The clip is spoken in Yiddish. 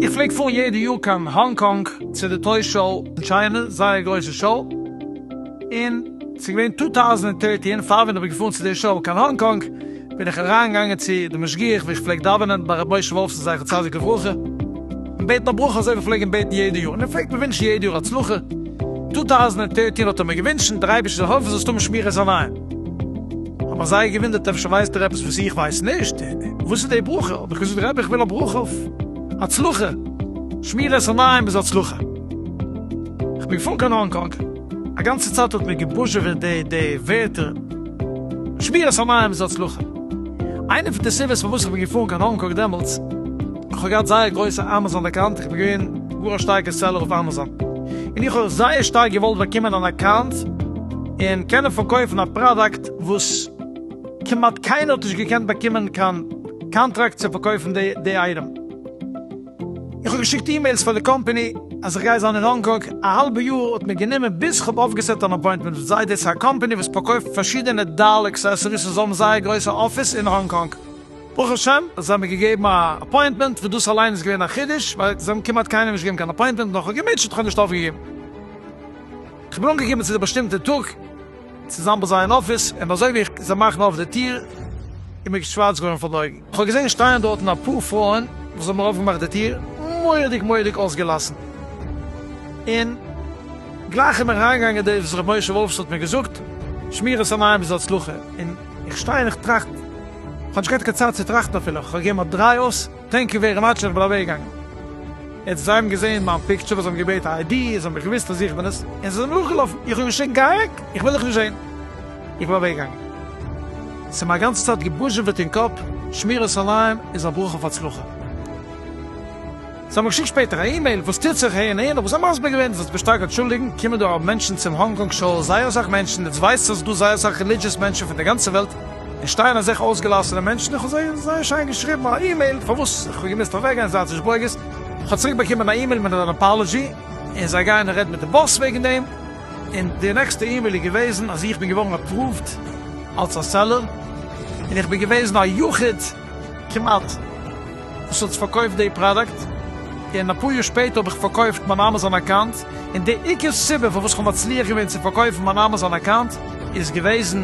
איך פלעג פארן יעדע יאר קיין האנג קאנג צו די טוי שאו אין טשיינע, זייער גרויסע שאו, און ס'איז געווען טו טאוזענד ענד דרעטין פאר ווען איך בין געפארן צו די שאו קיין האנג קאנג, בין איך אריין געגאנגען צו די משגיח ווי איך פלעג דאווענען ביי ר' משה וואלפסאן זכר צדיק לברכה און בעטן א ברכה אזוי ווי פלעגן בעטן יעדע יאר און ער פלעגט מיר ווינטשן יעדע יאר הצלחה, טו טאוזענט און טערטין האט ער מיר געווינטשן דער אייבערשטער זאל העלפן זאלסט האבן שמירת עיניים, האט מיר זייער געווינדערט אפשר ווייסט איר עפעס וואס איך ווייס נישט, וואס איז די ברכה, האב איך געזאגט רבי איך וויל א ברכה אויף הצלחה, שמירת עיניים איז הצלחה, איך בין געפארן קיין האנג קאנג. א גאנצע צייט האט מיר געבוזשעוועט די די ווערטער שבירת המים זו הצלחה. איינע פון די סיבות פארוואס איך בין געפארן קיין האנג קאנג דעמאלטס, איך האב געהאט זייער גרויסע אמאזאן אקאונט, איך בין געווען גאר א שטארקע סעלער אויף אמאזאן, און איך האב זייער שטארק געוואלט באקומען אן אקאונט און קענען פארקויפן א פראדאקט וואס כמעט קיינער האט נישט געקענט באקומען קיין קאנטראקט צו פארקויפן די די אייטעם. איך האב געשיקט אימעילס פאר די קאמפעני אז איך גיי זיין אין האנג קאנג, א האלבע יאר האט מיר גענומען ביז איך האב אויפגעסעט אן אפוינטמענט מיט זיי, דאס איז א קאמפעני וואס פארקויפט פארשידענע דעל אקסעסעריס און זיי האבן זייער גרויסע אפיס אין האנג קאנג. ברוך השם זיי האבן מיר געגעבן א אפוינטמענט וואס דאס אליין איז געווען א חידוש ווייל זיי האבן כמעט קיינעם נישט געגעבן קיין אפוינטמענט און איך האב געמוטשעט איך האב נישט אויפגעגעבן איך בין אנגעקומען צו די באשטימטע טאג. צוזאם ביי זיי אין אפיס, און אזוי ווי איך זע מאכן אויף די טיר איז מיר שווארץ געווארן פאר די אויגן, איך האב געזען שטייען דארטן אפאר פרויען וואס האבן אויפגעמאכט די טיר מורא'דיג מורא'דיג אויסגעלאסן, און גלייך איז מיר אריינגעגאנגען דאס וואס ר' משה וואלף האט מיר געזאגט, שמירת עיניים איז הצלחה, און איך שטיי און איך טראכט, איך האב נישט געהאט קיין צייט צו טראכטן אפילו, איך האב געגעבן א דריי אויס. טענק יו ווערי מאטש איך בין אוועקגעגאנגען און זיי האבן געזען מיין פיקטשער וואס זיי האבן געבעטן א איידי זיי האבן מיך געוויסט אז איך בין עס און זיי זענען נאכגעלאפן איך האב געשריגן גיי אוועק איך וויל דיך נישט זען איך בין אוועקגעגאנגען ס'איז מיר א גאנצע צייט געבוזשעוועט אין קאפ שמירת עיניים איז א ברכה אויף הצלחה זיי האבן געשיקט שפעטער א אימעיל וואס טוט זיך הער און הער נאך וואס זיי האבן מסביר געווען זאלסט דיך שטארק אנטשולדיגן קומען דא ארום מענטשן צום האנג קאנג שאו זייער אסאך מענטשן און עס ווייזט זיך אז ס'דא זייער אסאך רעלידזשעס מענטשן פון די גאנצע וועלט און שטייען אזעלכע אויסגעלאסענע מענטשן, איך האב זיי זייער שיין געשריבן א אימעיל פארוואס איך האב געמוזט אוועק גיין, זייט זיך נישט ברוגז, איך האב צוריק באקומען א אימעיל מיט אן אפאלעזשי, און זיי גייען רעדן מיט די באס וועגן דעם, און די נעקסטע אימעיל איז געוועזן אז איך בין געווארן אפראווד אלס א סעלער, און איך בין געוועזן א יחיד כמעט וואס האט פארקויפט די פראדאקט, און אפאר יאר שפעטער האב איך פארקויפט מיין אמאזאן אקאונט, און די עיקר סיבה פארוואס איך האב מצליח געווען צו פארקויפן מיין אמאזאן אקאונט איז געוועזן,